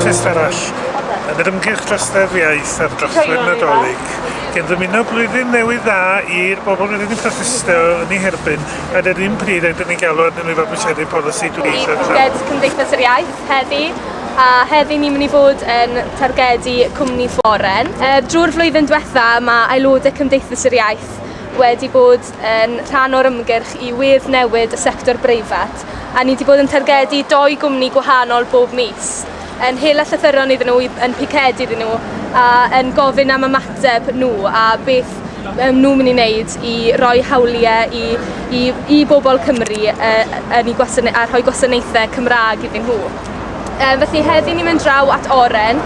Test arall yn yr ymgyrch drosedd iaith am drothwy'r Nadolig gan ddymuno blwyddyn newydd dda i'r bobl rydyn ni'n protestio yn ei herbyn ac yr un pryd rydyn ni'n galw arnyn nhw i fabwysiadu polisi dwyieithog. Ni targed Cymdeithas yr Iaith heddi a heddi ni'n mynd i fod yn targedu cwmni Floren. Er, drwy'r flwyddyn diwetha mae aelodau Cymdeithas yr Iaith wedi bod yn rhan o'r ymgyrch i wir newid y sector breifat, a ni wedi bod yn targedu doi gwmni gwahanol bob mis, yn hela llythyron iddyn nhw, yn picedu iddyn nhw, a yn gofyn am ymateb nhw a beth maen nhw'n mynd i wneud i roi hawliau i, i, i bobl Cymru uh, yn i gwasana- a rhoi gwasanaethau Cymraeg iddyn nhw. Yy felly heddi ni'n mynd draw at Oren.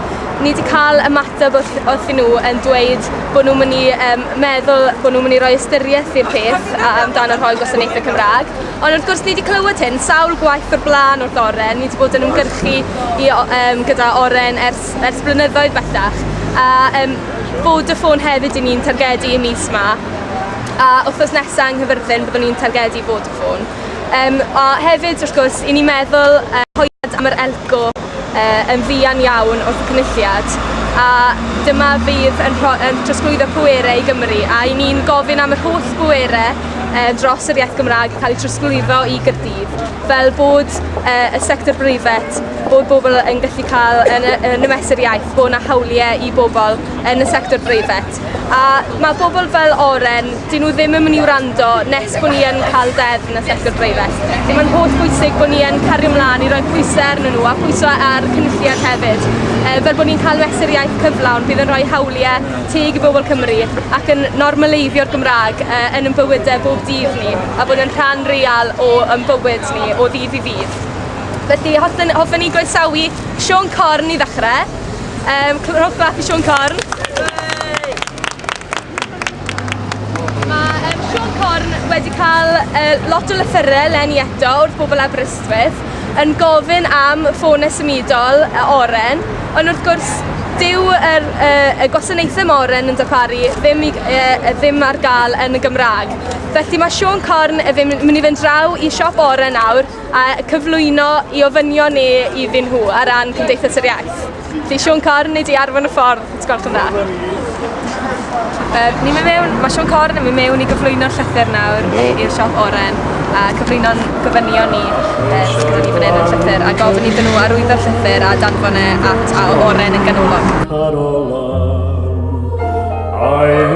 Ni 'di ca'l ymateb wrth wrthyn nhw yn dweud bo' nhw'n myn' i yym meddwl bo' nhw'n myn' i roi ystyrieth i'r peth a- a- amdano rhoi gwasanaethe Cymra'g. Ond wrth gwrs ni 'di clywed hyn sawl gwaith o'r bla'n wrth Oren ni 'di bod yn ymgyrchu i o- yym gyda Oren ers ers blynyddoedd bellach a yym Vodafone hefyd 'yn ni'n targedu y mis 'ma a wthnos nesa yng Nghyfyrddin byddwn ni'n targedu Vodafone. Um, a hefyd, wrth gwrs, i ni meddwl uh, hoed am yr elco uh, yn fuan iawn o'r cynulliad a dyma fydd yn, rho, yn trosglwyddo pwerau i Gymru a i ni'n gofyn am yr holl bwerau uh, dros yr iaith Gymraeg cael eu trosglwyddo i Gyrdydd fel bod uh, y sector breifet bod bobl yn gallu cael yn, yn y mesur iaith bod yna hawliau i bobl yn y sector breifet. A mae pobl fel Oren, dyn nhw ddim yn mynd i wrando nes bod ni yn cael deddf yn y sector breifat. Felly mae'n holl bwysig bod ni yn cario ymlaen i roi pwysau arnyn nhw a pwysau ar cynulliad hefyd. E, fel bod ni'n cael mesuriaeth cyflawn bydd yn rhoi hawliau teg i bobl Cymru ac yn normaleiddio'r Gymraeg e, yn yn bywydau bob dydd ni a bod yn rhan real o yn bywyd ni o ddydd i ddydd. Felly, hoffen, hoffen ni groesawu Sean Corn i ddechrau. Um, rhowch clap i Sean Corn. Mae um, Sean Corn wedi cael uh, lot o lythyrau lenni eto wrth bobl Aberystwyth yn gofyn am ffôn symudol y oren, ond wrth gwrs dyw yr, uh, y gwasanaethau moren yn darparu ddim, i, uh, ddim ar gael yn y Gymraeg. Felly mae Sean Corn yn mynd i fynd draw i siop oren nawr a cyflwyno i ofynion ni iddyn nhw ar ran Cymdeithas yr Iaith. Felly Siôn Corn, nid i arfon y ffordd, os gwelwch yn dda. Um, ni mynd mewn, mae Siôn Corn yn mynd mewn i gyflwyno'r llythyr nawr i'r siop oren a cyflwyno'n gofynion ni e, sydd gyda ni fan hyn yn llythyr a gofyn iddyn nhw arwyddo'r llythyr a danfon e at a oren yn ganolog. Carolan, I